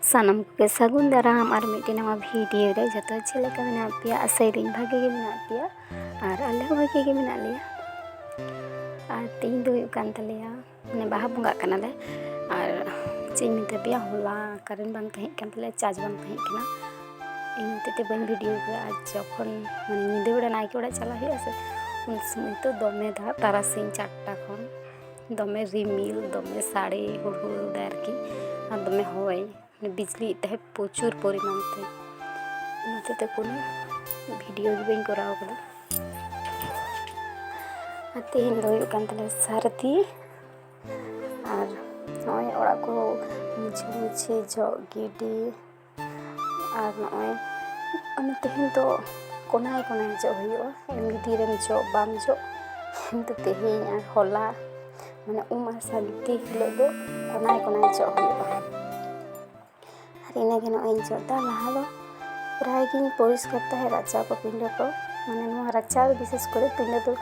ᱥᱟᱱᱟᱢ ᱠᱚᱜᱮ ᱥᱟᱹᱜᱩᱱ ᱫᱟᱨᱟᱢ ᱟᱨ ᱢᱤᱫᱴᱮᱱ ᱱᱟᱣᱟ ᱵᱷᱤᱰᱤᱭᱳ ᱨᱮ ᱡᱚᱛᱚ ᱪᱮᱫ ᱞᱮᱠᱟ ᱢᱮᱱᱟᱜ ᱯᱮᱭᱟ ᱟᱥᱟᱭᱮᱫᱟᱹᱧ ᱵᱷᱟᱜᱮ ᱜᱮ ᱢᱮᱱᱟᱜ ᱯᱮᱭᱟ ᱟᱨ ᱟᱞᱮ ᱦᱚᱸ ᱵᱷᱟᱜᱮ ᱜᱮ ᱢᱮᱱᱟᱜ ᱞᱮᱭᱟ ᱟᱨ ᱛᱮᱦᱮᱧ ᱫᱚ ᱦᱩᱭᱩᱜ ᱠᱟᱱ ᱛᱟᱞᱮᱭᱟ ᱢᱟᱱᱮ ᱵᱟᱦᱟ ᱵᱚᱸᱜᱟᱜ ᱠᱟᱱᱟᱞᱮ ᱟᱨ ᱪᱮᱫ ᱤᱧ ᱢᱮᱛᱟ ᱯᱮᱭᱟ ᱦᱚᱞᱟ ᱠᱟᱨᱮᱱᱴ ᱵᱟᱝ ᱛᱟᱦᱮᱸ ᱠᱟᱱ ᱛᱟᱞᱮᱭᱟ ᱪᱟᱨᱡᱽ ᱵᱟᱝ ᱛᱟᱦᱮᱸ ᱠᱟᱱᱟ ᱤᱧ ᱦᱚᱛᱮᱡ ᱛᱮ ᱵᱟᱹᱧ ᱵᱷᱤᱰᱤᱭᱳ ᱠᱮᱫᱟ ᱟᱨ ᱡᱚᱠᱷᱚᱱ ᱢᱟᱱᱮ ᱧᱤᱫᱟᱹ ᱵᱮᱲᱟ ᱱᱟᱭᱠᱮ ᱚᱲᱟᱜ ᱪᱟᱞᱟᱜ ᱦᱩᱭᱩᱜᱼᱟ ᱥᱮ ᱩᱱ ᱥᱚᱢᱚᱭ ᱫᱚ ᱫᱚᱢᱮ ᱫᱟᱜ ᱛᱟᱨᱟᱥᱤᱧ ᱪᱟᱨᱴᱟ ᱠᱷᱚᱱ ᱫᱚᱢᱮ ᱨᱤᱢᱤᱞ ᱫᱚᱢᱮ ᱥᱟᱰᱮ ᱦᱩᱰᱩᱨ ᱮᱫᱟᱭ ᱟᱨᱠᱤ ᱟᱨ ᱫᱚᱢᱮ ᱦᱚᱭ ᱵᱤᱡᱽᱞᱤᱭᱮᱫ ᱛᱟᱦᱮᱸᱫ ᱯᱨᱚᱪᱩᱨ ᱯᱚᱨᱤᱢᱟᱱ ᱛᱮ ᱚᱱᱟ ᱦᱚᱛᱮᱡ ᱛᱮ ᱠᱳᱱᱳ ᱵᱷᱤᱰᱤᱭᱳ ᱜᱮ ᱵᱟᱹᱧ ᱠᱚᱨᱟᱣ ᱠᱟᱫᱟ ᱟᱨ ᱛᱮᱦᱮᱧ ᱫᱚ ᱦᱩᱭᱩᱜ ᱠᱟᱱ ᱛᱟᱞᱮᱭᱟ ᱥᱟᱹᱨᱫᱤ ᱟᱨ ᱱᱚᱜᱼᱚᱭ ᱚᱲᱟᱜ ᱠᱚ ᱢᱩᱪᱷᱟᱹ ᱢᱩᱪᱷᱤ ᱡᱚᱜ ᱜᱤᱰᱤ ᱟᱨ ᱱᱚᱜᱼᱚᱭ ᱚᱱᱟ ᱛᱮᱦᱮᱧ ᱫᱚ ᱠᱚᱱᱟᱭ ᱠᱚᱱᱟᱭ ᱡᱚᱜ ᱦᱩᱭᱩᱜᱼᱟ ᱮᱢᱱᱤ ᱛᱤᱨᱮᱢ ᱡᱚᱜ ᱵᱟᱢ ᱡᱚᱜ ᱠᱤᱱᱛᱩ ᱛᱮᱦᱮᱧ ᱟᱨ ᱦᱚᱞᱟ ᱢᱟᱱᱮ ᱩᱢ ᱟᱨ ᱥᱟᱹᱨᱫᱤ ᱦᱤᱞᱳᱜ ᱫᱚ ᱠᱚᱱᱟᱭ ᱠᱚᱱᱟᱭ ᱡᱚᱜ ᱦᱩᱭᱩᱜᱼᱟ ᱟᱨ ᱤᱱᱟᱹᱜᱮ ᱱᱚᱜᱼᱚᱭ ᱤᱧ ᱡᱚᱜ ᱮᱫᱟ ᱞᱟᱦᱟ ᱫᱚ ᱯᱨᱟᱭ ᱜᱤᱧ ᱯᱚᱨᱤᱥᱠᱟᱨ ᱛᱟᱦᱮᱸᱫ ᱨᱟᱪᱟ ᱠᱚ ᱯᱤᱸᱰᱟᱹ ᱠᱚ ᱢᱟᱱᱮ ᱱᱚᱣᱟ ᱨᱟᱪᱟ ᱫᱚ ᱵᱤᱥᱮᱥ ᱠᱚᱨᱮ ᱯᱤᱸᱰᱟᱹ ᱫᱚ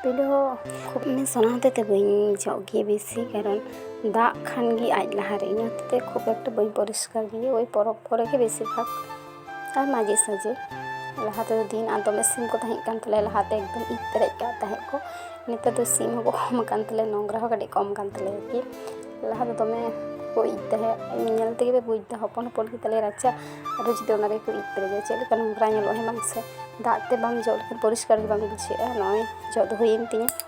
ᱯᱤᱸᱰᱟᱹ ᱦᱚᱸ ᱠᱷᱩᱵ ᱢᱟᱱᱮ ᱥᱚᱱᱟ ᱦᱚᱛᱮ ᱛᱮ ᱵᱟᱹᱧ ᱡᱚᱜ ᱜᱮᱭᱟ ᱵᱮᱥᱤ ᱠᱟᱨᱚᱱ ᱫᱟᱜ ᱠᱷᱟᱱ ᱜᱮ ᱟᱡ ᱞᱟᱦᱟᱨᱮ ᱤᱧ ᱦᱚᱛᱮᱛᱮ ᱠᱷᱩᱵ ᱮᱠᱴᱟ ᱵᱟᱹᱧ ᱯᱚᱨᱤᱥᱠᱟᱨ ᱜᱮᱭᱟ ᱳᱭ ᱯᱚᱨᱚᱵᱽ ᱠᱚᱨᱮ ᱜᱮ ᱵᱮᱥᱤ ᱵᱷᱟᱜᱽ ᱟᱨ ᱢᱟᱡᱷᱮ ᱥᱟᱡᱷᱮ ᱞᱟᱦᱟ ᱛᱮᱫᱚ ᱫᱤᱱ ᱟᱨ ᱫᱚᱢᱮ ᱥᱤᱢ ᱠᱚ ᱛᱟᱦᱮᱸ ᱠᱟᱱ ᱛᱟᱞᱮᱭᱟ ᱞᱟᱦᱟᱛᱮ ᱮᱠᱫᱚᱢ ᱤᱡ ᱯᱮᱨᱮᱡ ᱠᱟᱜ ᱛᱟᱦᱮᱸᱫ ᱠᱚ ᱱᱮᱛᱟᱨ ᱫᱚ ᱥᱤᱢ ᱦᱚᱸᱠᱚ ᱠᱚᱢ ᱟᱠᱟᱱ ᱛᱟᱞᱮᱭᱟ ᱱᱚᱝᱨᱟ ᱦᱚᱸ ᱠᱟᱹᱴᱤᱡ ᱠᱚᱢ ᱟᱠᱟᱱ ᱛᱟᱞᱮᱭᱟ ᱟᱨᱠᱤ ᱞᱟᱦᱟ ᱫᱚ ᱫᱚᱢᱮ ᱠᱚ ᱤᱡ ᱛᱟᱦᱮᱸᱫ ᱤᱧ ᱧᱮᱞ ᱛᱮᱜᱮ ᱯᱮ ᱵᱩᱡᱽ ᱮᱫᱟ ᱦᱚᱯᱚᱱ ᱦᱚᱯᱚᱱ ᱜᱮᱛᱟᱞᱮᱭᱟ ᱨᱟᱪᱟ ᱟᱨᱚ ᱡᱩᱫᱤ ᱚᱱᱟ ᱨᱮᱠᱚ ᱤᱡ ᱯᱮᱨᱮᱡᱟ ᱪᱮᱫ ᱞᱮᱠᱟ ᱱᱚᱝᱨᱟ ᱧᱮᱞᱚᱜᱼᱟ ᱦᱮᱸ ᱵᱟᱝ ᱥᱮ ᱫᱟᱜ ᱛᱮ ᱵᱟᱢ ᱡᱚᱜ ᱞᱮᱠᱷᱟᱱ ᱯᱚᱨᱤᱥᱠᱟᱨ ᱜᱮ ᱵᱟᱝ ᱵᱩᱡᱷᱟᱹᱜᱼᱟ ᱱᱚᱜᱼᱚᱭ ᱡᱚᱜ ᱫᱚ ᱦᱩᱭᱮᱱ ᱛᱤᱧᱟᱹ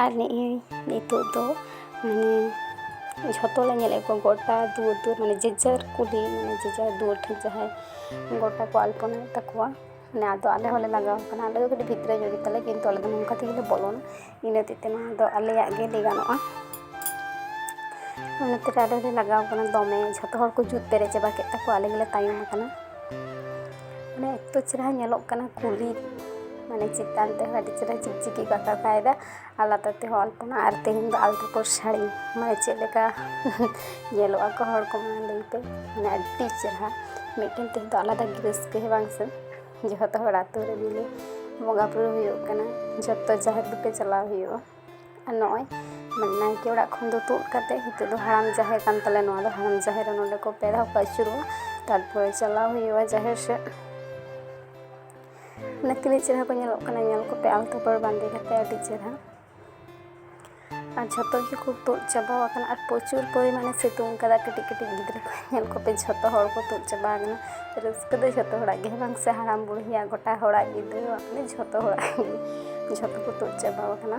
ᱟᱨ ᱱᱮᱜᱼᱮ ᱱᱤᱛᱳᱜ ᱫᱚ ᱡᱷᱚᱛᱚ ᱞᱮ ᱧᱮᱞᱮᱫ ᱠᱚᱣᱟ ᱜᱚᱴᱟ ᱫᱩᱣᱟᱹᱨ ᱫᱩᱣᱟᱹᱨ ᱢᱟᱱᱮ ᱡᱮ ᱡᱟᱨ ᱠᱩᱞᱦᱤ ᱢᱟᱱᱮ ᱡᱮ ᱡᱟᱨ ᱫᱩᱣᱟᱹᱨ ᱴᱷᱮᱱ ᱡᱟᱦᱟᱸᱭ ᱜᱚᱴᱟ ᱠᱚ ᱟᱞᱯᱚᱱᱟᱭᱮᱫ ᱛᱟᱠᱚᱣᱟ ᱢᱟᱱᱮ ᱟᱫᱚ ᱟᱞᱮ ᱦᱚᱸᱞᱮ ᱞᱟᱜᱟᱣ ᱠᱟᱱᱟ ᱟᱞᱮ ᱫᱚ ᱠᱟᱹᱴᱤᱡ ᱵᱷᱤᱛᱨᱤ ᱧᱚᱜ ᱜᱮᱛᱟᱞᱮ ᱠᱤᱱᱛᱩ ᱟᱞᱮ ᱫᱚ ᱱᱚᱝᱠᱟ ᱛᱮᱜᱮᱞᱮ ᱵᱚᱞᱚᱱᱟ ᱤᱱᱟᱹ ᱦᱚᱛᱮᱡ ᱛᱮ ᱱᱚᱣᱟ ᱫᱚ ᱟᱞᱮᱭᱟᱜ ᱜᱮ ᱞᱟᱹᱭ ᱜᱟᱱᱚᱜᱼᱟ ᱚᱱᱟ ᱛᱮᱜᱮ ᱟᱞᱮ ᱞᱮ ᱞᱟᱜᱟᱣ ᱠᱟᱱᱟ ᱫᱚᱢᱮ ᱡᱷᱚᱛᱚ ᱦᱚᱲ ᱠᱚ ᱡᱩᱛ ᱯᱮᱨᱮᱡ ᱪᱟᱵᱟ ᱠᱮᱫ ᱛᱟᱠᱚᱣᱟ ᱟᱞᱮ ᱜᱮᱞᱮ ᱛᱟᱭᱚᱢ ᱠᱟᱱᱟ ᱢᱟᱱᱮ ᱮᱛᱚ ᱪᱮᱦᱨᱟ ᱧᱮᱞᱚᱜ ᱠᱟᱱᱟ ᱠᱩᱞᱦᱤ ᱢᱟᱱᱮ ᱪᱮᱛᱟᱱ ᱛᱮᱦᱚᱸ ᱟᱹᱰᱤ ᱪᱮᱦᱨᱟ ᱪᱤᱠᱪᱤᱠᱤ ᱠᱚ ᱟᱠᱟ ᱠᱟᱭᱫᱟ ᱟᱨ ᱞᱟᱛᱟᱨ ᱛᱮᱦᱚᱸ ᱟᱞᱯᱚᱱᱟ ᱟᱨ ᱛᱮᱦᱮᱧ ᱫᱚ ᱟᱞᱛᱟ ᱯᱟᱹᱲ ᱥᱟᱹᱲᱤ ᱢᱟᱱᱮ ᱪᱮᱫ ᱞᱮᱠᱟ ᱧᱮᱞᱚᱜ ᱟᱠᱚ ᱦᱚᱲ ᱠᱚ ᱢᱟᱱᱮ ᱞᱟᱹᱭᱛᱮ ᱢᱟᱱᱮ ᱟᱹᱰᱤ ᱪᱮᱦᱨᱟ ᱢᱤᱫᱴᱮᱱ ᱛᱮᱦᱮᱧ ᱫᱚ ᱟᱞᱟᱫᱟ ᱜᱮ ᱨᱟᱹᱥᱠᱟᱹ ᱦᱮᱸ ᱵᱟᱝ ᱥᱮ ᱡᱚᱛᱚ ᱦᱚᱲ ᱟᱛᱳ ᱨᱮ ᱢᱤᱞᱮ ᱵᱚᱸᱜᱟ ᱵᱳᱨᱳ ᱦᱩᱭᱩᱜ ᱠᱟᱱᱟ ᱡᱚᱛᱚ ᱡᱟᱦᱮᱨ ᱵᱩᱴᱟᱹ ᱪᱟᱞᱟᱣ ᱦᱩᱭᱩᱜᱼᱟ ᱟᱨ ᱱᱚᱜᱼᱚᱭ ᱱᱟᱭᱠᱮ ᱚᱲᱟᱜ ᱠᱷᱚᱱ ᱫᱚ ᱛᱩᱫ ᱠᱟᱛᱮ ᱱᱤᱛᱚᱜ ᱫᱚ ᱦᱟᱲᱟᱢ ᱡᱟᱦᱮᱨ ᱠᱟᱱ ᱛᱟᱞᱮᱭᱟ ᱱᱚᱣᱟ ᱫᱚ ᱦᱟᱲᱟᱢ ᱡᱟᱦᱮᱨ ᱨᱮ ᱱᱚᱰᱮ ᱠᱚ ᱯᱮ ᱫᱷᱟᱣ ᱠᱚ ᱟᱹᱪᱩᱨᱚᱜᱼᱟ ᱛᱟᱨᱯᱚᱨᱮ ᱪᱟᱞᱟᱣ ᱦᱩᱭᱩᱜᱼᱟ ᱡᱟᱦᱮᱨ ᱥᱮᱫ ᱚᱱᱟ ᱛᱤᱱᱟᱹᱜ ᱪᱮᱦᱨᱟ ᱠᱚ ᱧᱮᱞᱚᱜ ᱠᱟᱱᱟ ᱧᱮᱞ ᱠᱚᱯᱮ ᱟᱞᱛᱟ ᱯᱟᱹᱲ ᱵᱟᱸᱫᱮ ᱠᱟᱛᱮ ᱟᱹᱰᱤ ᱪᱮᱦᱨᱟ ᱟᱨ ᱡᱷᱚᱛᱚ ᱜᱮᱠᱚ ᱛᱩᱫ ᱪᱟᱵᱟ ᱟᱠᱟᱱᱟ ᱟᱨ ᱯᱨᱚᱪᱩᱨ ᱯᱚᱨᱤᱢᱟᱱᱮ ᱥᱤᱛᱩᱝ ᱠᱟᱫᱟ ᱠᱟᱹᱴᱤᱡ ᱠᱟᱹᱴᱤᱡ ᱜᱤᱫᱽᱨᱟᱹ ᱠᱚ ᱧᱮᱞ ᱠᱚᱯᱮ ᱡᱷᱚᱛᱚ ᱦᱚᱲ ᱠᱚ ᱛᱩᱫ ᱪᱟᱵᱟ ᱟᱠᱟᱱᱟ ᱨᱟᱹᱥᱠᱟᱹ ᱫᱚ ᱡᱷᱚᱛᱚ ᱦᱚᱲᱟᱜ ᱜᱮ ᱵᱟᱝ ᱥᱮ ᱦᱟᱲᱟᱢ ᱵᱩᱲᱦᱤᱭᱟᱜ ᱜᱚᱴᱟ ᱦᱚᱲᱟᱜ ᱜᱮ ᱫᱟᱹᱭᱟᱜ ᱜᱮ ᱡᱷᱚᱛᱚ ᱦᱚᱲᱟᱜ ᱜᱮ ᱡᱷᱚᱛᱚ ᱠᱚ ᱛᱩᱫ ᱪᱟᱵᱟ ᱟᱠᱟᱱᱟ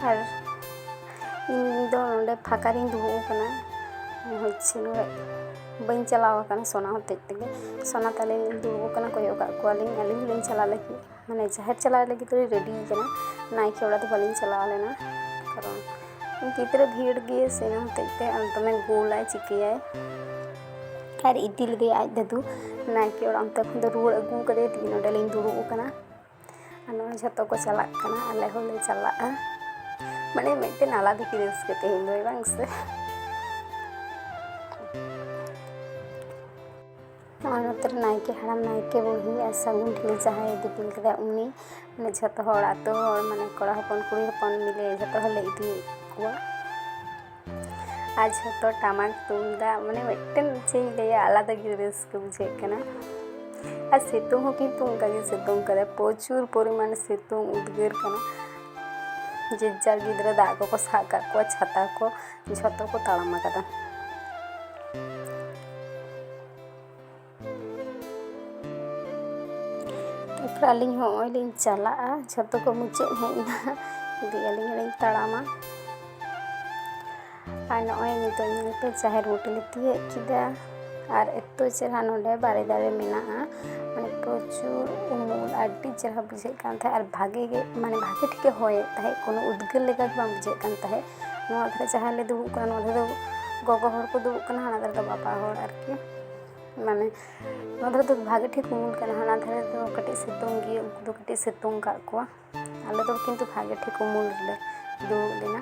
ᱟᱨ ᱤᱧ ᱫᱚ ᱱᱚᱰᱮ ᱯᱷᱟᱸᱠᱟ ᱨᱤᱧ ᱫᱩᱲᱩᱵ ᱟᱠᱟᱱᱟ ᱦᱚᱪᱪᱷᱮ ᱱᱚᱰᱮ ᱵᱟᱹᱧ ᱪᱟᱞᱟᱣ ᱟᱠᱟᱱᱟ ᱥᱚᱱᱟ ᱦᱚᱛᱮᱡ ᱛᱮᱜᱮ ᱥᱚᱱᱟ ᱛᱟᱞᱮ ᱫᱩᱲᱩᱵ ᱟᱠᱟᱱᱟ ᱠᱚᱭᱚᱜ ᱟᱠᱟᱫ ᱠᱚᱣᱟᱞᱤᱧ ᱟᱹᱞᱤᱧ ᱦᱚᱸᱞᱤᱧ ᱪᱟᱞᱟᱜ ᱞᱟᱹᱜᱤᱫ ᱢᱟᱱᱮ ᱡᱟᱦᱮᱨ ᱪᱟᱞᱟᱜ ᱞᱟᱹᱜᱤᱫ ᱛᱮᱞᱮ ᱨᱮᱰᱤ ᱠᱟᱱᱟ ᱱᱟᱭᱠᱮ ᱚᱲᱟᱜ ᱫᱚ ᱵᱟᱹᱞᱤᱧ ᱪᱟᱞᱟᱣ ᱞᱮᱱᱟ ᱠᱟᱨᱚᱱ ᱜᱤᱫᱽᱨᱟᱹ ᱵᱷᱤᱲ ᱜᱮ ᱥᱮᱱ ᱦᱚᱛᱮᱡ ᱛᱮ ᱫᱚᱢᱮ ᱜᱳᱞᱟᱭ ᱪᱤᱠᱟᱹᱭᱟᱭ ᱟᱨ ᱤᱫᱤ ᱞᱮᱫᱮᱭᱟ ᱟᱡ ᱫᱟᱫᱩ ᱱᱟᱭᱠᱮ ᱚᱲᱟᱜ ᱚᱱᱛᱮ ᱠᱷᱚᱱ ᱫᱚ ᱨᱩᱣᱟᱹᱲ ᱟᱹᱜᱩ ᱠᱟᱫᱮ ᱛᱮᱜᱮ ᱱᱚᱰᱮ ᱞᱤᱧ ᱫᱩᱲᱩᱵ ᱟᱠᱟᱱᱟ ᱟᱨ ᱱᱚᱜᱼᱚᱭ ᱡᱷᱚᱛᱚ ᱠᱚ ᱪᱟᱞᱟᱜ ᱠᱟᱱᱟ ᱟᱞᱮ ᱦᱚᱸᱞᱮ ᱪᱟᱞᱟᱜᱼᱟ ᱢᱟᱱᱮ ᱢᱤᱫᱴᱮᱱ ᱟᱞᱟᱫᱟ ᱜᱮ ᱨᱟᱹᱥᱠᱟᱹ ᱛᱮᱦᱮᱧ ᱫᱚ ᱵᱟᱝ ᱥᱮ ᱱᱚᱣᱟ ᱱᱚᱛᱮ ᱨᱮ ᱱᱟᱭᱠᱮ ᱦᱟᱲᱟᱢ ᱱᱟᱭᱠᱮ ᱵᱩᱲᱦᱤ ᱟᱨ ᱥᱟᱹᱜᱩᱱ ᱴᱷᱤᱞᱤ ᱡᱟᱦᱟᱸᱭ ᱫᱤᱯᱤᱞ ᱠᱮᱫᱟ ᱩᱱᱤ ᱢᱟᱱᱮ ᱡᱷᱚᱛᱚ ᱦᱚᱲ ᱟᱛᱳ ᱦᱚᱲ ᱢᱟᱱᱮ ᱠᱚᱲᱟ ᱦᱚᱯᱚᱱ ᱠᱩᱲᱤ ᱦᱚᱯᱚᱱ ᱢᱤᱞᱮ ᱡᱷᱚᱛᱚ ᱦᱚᱲ ᱞᱮ ᱤᱫᱤ ᱠᱚᱣᱟ ᱟᱨ ᱡᱷᱚᱛᱚ ᱴᱟᱢᱟᱠ ᱛᱩᱢᱫᱟᱜ ᱢᱟᱱᱮ ᱢᱤᱫᱴᱮᱱ ᱪᱮᱫ ᱤᱧ ᱞᱟᱹᱭᱟ ᱟᱞᱟᱫᱟ ᱜᱮ ᱨᱟᱹᱥᱠᱟᱹ ᱵᱩᱡᱷᱟᱹᱜ ᱠᱟᱱᱟ ᱟᱨ ᱥᱤᱛᱩᱝ ᱦᱚᱸ ᱠᱤᱱᱛᱩ ᱚᱱᱠᱟ ᱜᱮ ᱥᱤᱛᱩᱝ ᱠᱟᱫᱟ ᱯᱨᱚᱪᱩᱨ ᱯᱚᱨᱤᱢᱟᱱ ᱥᱤᱛᱩᱝ ᱩᱫᱽᱜᱟᱹᱨ ᱠᱟᱱᱟ ᱡᱮ ᱡᱟᱨ ᱜᱤᱫᱽᱨᱟᱹ ᱫᱟᱜ ᱠᱚᱠᱚ ᱥᱟᱵ ᱠᱟᱜ ᱠᱚᱣᱟ ᱪᱷᱟᱛᱟ ᱠᱚ ᱡᱷᱚᱛᱚ ᱠᱚ ᱛᱟᱲᱟᱢ ᱟᱠᱟᱫᱟ ᱛᱟᱨᱯᱚᱨ ᱟᱹᱞᱤᱧ ᱦᱚᱸ ᱱᱚᱜᱼᱚᱭ ᱞᱤᱧ ᱪᱟᱞᱟᱜᱼᱟ ᱡᱷᱚᱛᱚ ᱠᱚ ᱢᱩᱪᱟᱹᱫ ᱦᱮᱡ ᱮᱱᱟ ᱫᱤᱭᱮ ᱟᱹᱞᱤᱧ ᱦᱚᱸᱞᱤᱧ ᱛᱟᱲᱟᱢᱟ ᱟᱨ ᱱᱚᱜᱼᱚᱭ ᱱᱤᱛᱚᱜ ᱧᱮᱞ ᱯᱮ ᱡᱟᱦᱮᱨ ᱵᱩᱴᱟᱹ ᱞᱮ ᱛᱤᱭᱟᱹᱜ ᱠᱮᱫᱟ ᱟᱨ ᱮᱛᱚ ᱪᱮᱦᱨᱟ ᱱᱚᱰᱮ ᱵᱟᱨᱮ ᱫᱟᱨᱮ ᱢᱮᱱᱟᱜᱼᱟ ᱢᱟᱱᱮ ᱯᱨᱚᱪᱩᱨ ᱩᱢᱩᱞ ᱟᱹᱰᱤ ᱪᱮᱦᱨᱟ ᱵᱩᱡᱷᱟᱹᱜ ᱠᱟᱱ ᱛᱟᱦᱮᱸᱫ ᱟᱨ ᱵᱷᱟᱜᱮ ᱜᱮ ᱢᱟᱱᱮ ᱵᱷᱟᱜᱮ ᱴᱷᱤᱠᱮ ᱦᱚᱭᱮᱫ ᱛᱟᱦᱮᱸᱫ ᱠᱳᱱᱳ ᱩᱫᱽᱜᱟᱹᱨ ᱞᱮᱠᱟ ᱜᱮ ᱵᱟᱝ ᱵᱩᱡᱷᱟᱹᱜ ᱠᱟᱱ ᱛᱟᱦᱮᱸᱫ ᱱᱚᱣᱟ ᱫᱷᱟᱨᱮ ᱡᱟᱦᱟᱸᱭ ᱞᱮ ᱫᱩᱲᱩᱵ ᱠᱟᱱᱟ ᱱᱚᱣᱟ ᱫᱷᱟᱨᱮ ᱫᱚ ᱜᱚᱜᱚ ᱦᱚᱲ ᱠᱚ ᱫᱩᱲᱩᱵ ᱠᱟᱱᱟ ᱦᱟᱱᱟ ᱫᱷᱟᱨᱮ ᱫᱚ ᱵᱟᱵᱟ ᱦᱚᱲ ᱟᱨᱠᱤ ᱢᱟᱱᱮ ᱱᱚᱣᱟ ᱫᱷᱟᱨᱮ ᱫᱚ ᱵᱷᱟᱜᱮ ᱴᱷᱤᱠ ᱩᱢᱩᱞ ᱠᱟᱱᱟ ᱦᱟᱱᱟ ᱫᱷᱟᱨᱮ ᱫᱚ ᱠᱟᱹᱴᱤᱡ ᱥᱤᱛᱩᱝ ᱜᱮᱭᱟ ᱩᱱᱠᱩ ᱫᱚ ᱠᱟᱹᱴᱤᱡ ᱥᱤᱛᱩᱝ ᱠᱟᱜ ᱠᱚᱣᱟ ᱟᱞᱮ ᱫᱚ ᱠᱤᱱᱛᱩ ᱵᱷᱟᱜᱮ ᱴᱷᱤᱠ ᱩᱢᱩᱞ ᱨᱮᱞᱮ ᱫᱩᱲᱩᱵ ᱞᱮᱱᱟ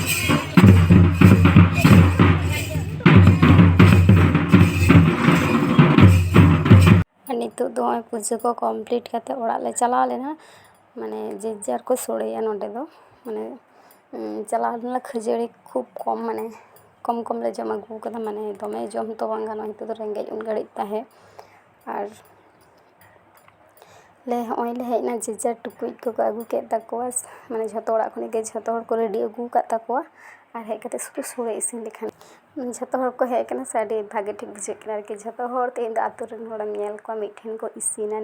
ᱱᱤᱛᱚᱜ ᱫᱚ ᱱᱚᱜᱼᱚᱭ ᱯᱩᱡᱟᱹ ᱠᱚ ᱠᱚᱢᱯᱞᱤᱴ ᱠᱟᱛᱮ ᱚᱲᱟᱜ ᱞᱮ ᱪᱟᱞᱟᱣ ᱞᱮᱱᱟ ᱢᱟᱱᱮ ᱡᱮ ᱡᱟᱨ ᱠᱚ ᱥᱚᱲᱮᱭᱟ ᱱᱚᱰᱮ ᱫᱚ ᱢᱟᱱᱮ ᱪᱟᱞᱟᱣ ᱞᱮᱱᱟᱞᱮ ᱠᱷᱟᱹᱡᱟᱹᱲᱤ ᱠᱷᱩᱵ ᱠᱚᱢ ᱢᱟᱱᱮ ᱠᱚᱢ ᱠᱚᱢᱞᱮ ᱡᱚᱢ ᱟᱹᱜᱩ ᱠᱟᱫᱟ ᱢᱟᱱᱮ ᱫᱚᱢᱮ ᱡᱚᱢ ᱦᱚᱸᱛᱚ ᱵᱟᱝ ᱜᱟᱱᱚᱜᱼᱟ ᱱᱤᱛᱚᱜ ᱫᱚ ᱨᱮᱸᱜᱮᱡ ᱩᱱ ᱜᱷᱟᱹᱲᱤᱡ ᱛᱟᱦᱮᱸ ᱟᱨ ᱞᱮ ᱦᱚᱸᱜᱼᱚᱭ ᱞᱮ ᱦᱮᱡ ᱮᱱᱟ ᱡᱮ ᱡᱟᱨ ᱴᱩᱠᱩᱡ ᱠᱚᱠᱚ ᱟᱹᱜᱩ ᱠᱮᱫ ᱛᱟᱠᱚᱣᱟ ᱢᱟᱱᱮ ᱡᱷᱚᱛᱚ ᱚᱲᱟᱜ ᱠᱷᱚᱱᱟᱜ ᱜᱮ ᱡᱷᱚᱛᱚ ᱦᱚᱲ ᱠᱚ ᱨᱮᱰᱤ ᱟᱹᱜᱩ ᱟᱠᱟᱫ ᱛᱟᱠᱚᱣᱟ ᱟᱨ ᱦᱮᱡ ᱠᱟᱛᱮ ᱥᱩᱫᱷᱩ ᱥᱳᱲᱮ ᱤᱥᱤᱱ ᱞᱮᱠᱷᱟᱱ ᱜᱮ ᱡᱷᱚᱛᱚ ᱦᱚᱲ ᱠᱚ ᱦᱮᱡ ᱠᱟᱱᱟ ᱥᱮ ᱟᱹᱰᱤ ᱵᱷᱟᱜᱮ ᱴᱷᱤᱠ ᱵᱩᱡᱷᱟᱹᱜ ᱠᱟᱱᱟ ᱟᱨᱠᱤ ᱡᱷᱚᱛᱚ ᱦᱚᱲ ᱛᱮᱦᱮᱧ ᱫᱚ ᱟᱛᱳ ᱨᱮᱱ ᱦᱚᱲᱮᱢ ᱧᱮᱞ ᱠᱚᱣᱟ ᱢᱤᱫ ᱴᱷᱮᱱ ᱠᱚ ᱤᱥᱤᱱᱟ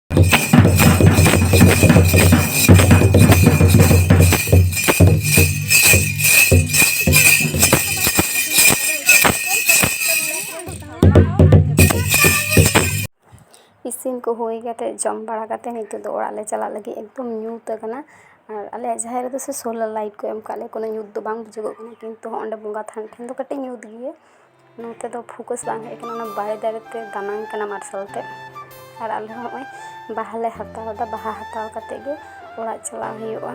ᱤᱥᱤᱱ ᱠᱚ ᱦᱩᱭ ᱠᱟᱛᱮ ᱡᱚᱢ ᱵᱟᱲᱟ ᱠᱟᱛᱮ ᱱᱤᱛᱚᱜ ᱫᱚ ᱚᱲᱟᱜ ᱞᱮ ᱪᱟᱞᱟᱜ ᱞᱟᱹᱜᱤᱫ ᱮᱠᱫᱚᱢ ᱧᱩᱛ ᱟᱠᱟᱱᱟ ᱟᱨ ᱟᱞᱮᱭᱟᱜ ᱡᱟᱦᱮᱨ ᱨᱮᱫᱚ ᱥᱮ ᱥᱳᱞᱟᱨ ᱞᱟᱭᱤᱴ ᱠᱚ ᱮᱢ ᱠᱟᱜ ᱞᱮᱭᱟ ᱠᱳᱱᱳ ᱧᱩᱛ ᱫᱚ ᱵᱟᱝ ᱵᱩᱡᱩᱜᱚᱜ ᱠᱟᱱᱟ ᱠᱤᱱᱛᱩ ᱚᱸᱰᱮ ᱵᱚᱸᱜᱟ ᱛᱷᱟᱱ ᱴᱷᱮᱱ ᱫᱚ ᱠᱟᱹᱴᱤᱡ ᱧᱩᱛ ᱜᱮᱭᱟ ᱱᱚᱛᱮ ᱫᱚ ᱯᱷᱳᱠᱟᱥ ᱵᱟᱝ ᱦᱮᱡ ᱠᱟᱱᱟ ᱚᱱᱟ ᱵᱟᱲᱮ ᱫᱟᱨᱮ ᱛᱮ ᱫᱟᱱᱟᱝ ᱠᱟᱱᱟ ᱢᱟᱨᱥᱟᱞ ᱛᱮ ᱟᱨ ᱟᱞᱮ ᱦᱚᱸ ᱱᱚᱜᱼᱚᱭ ᱵᱟᱦᱟ ᱞᱮ ᱦᱟᱛᱟᱣ ᱮᱫᱟ ᱵᱟᱦᱟ ᱦᱟᱛᱟᱣ ᱠᱟᱛᱮ ᱜᱮ ᱚᱲᱟᱜ ᱪᱟᱞᱟᱣ ᱦᱩᱭᱩᱜᱼᱟ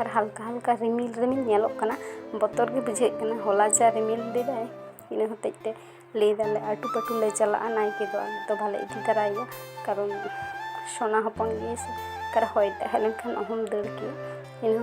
ᱟᱨ ᱦᱟᱞᱠᱟ ᱦᱟᱞᱠᱟ ᱨᱤᱢᱤᱞ ᱨᱤᱢᱤᱞ ᱧᱮᱞᱚᱜ ᱠᱟᱱᱟ ᱵᱚᱛᱚᱨ ᱜᱮ ᱵᱩᱡᱷᱟᱹᱜ ᱠᱟᱱᱟ ᱦᱚᱞᱟ ᱡᱟ ᱨᱤᱢᱤᱞ ᱞᱮᱫᱟᱭ ᱤᱱᱟᱹ ᱦᱚᱛᱮᱡ ᱛᱮ ᱞᱟᱹᱭ ᱫᱟᱞᱮ ᱟᱹᱴᱩ ᱯᱟᱹᱴᱩ ᱞᱮ ᱪᱟᱞᱟᱜᱼᱟ ᱱᱟᱭᱠᱮ ᱫᱚ ᱟᱞᱮ ᱫᱚ ᱵᱟᱞᱮ ᱤᱫᱤ ᱛᱟᱨᱟᱭᱮᱭᱟ ᱠᱟᱨᱚᱱ ᱥᱚᱱᱟ ᱦᱚᱯᱚᱱ ᱜᱮᱭᱟᱭ ᱥᱮ ᱚᱠᱟᱨᱮ ᱦᱚᱭ ᱫᱟᱜ ᱦᱮᱡ ᱞᱮᱱᱠᱷᱟᱱ ᱚᱦᱚᱢ ᱫᱟᱹᱲ ᱠᱮᱭᱟ ᱤᱱᱟᱹ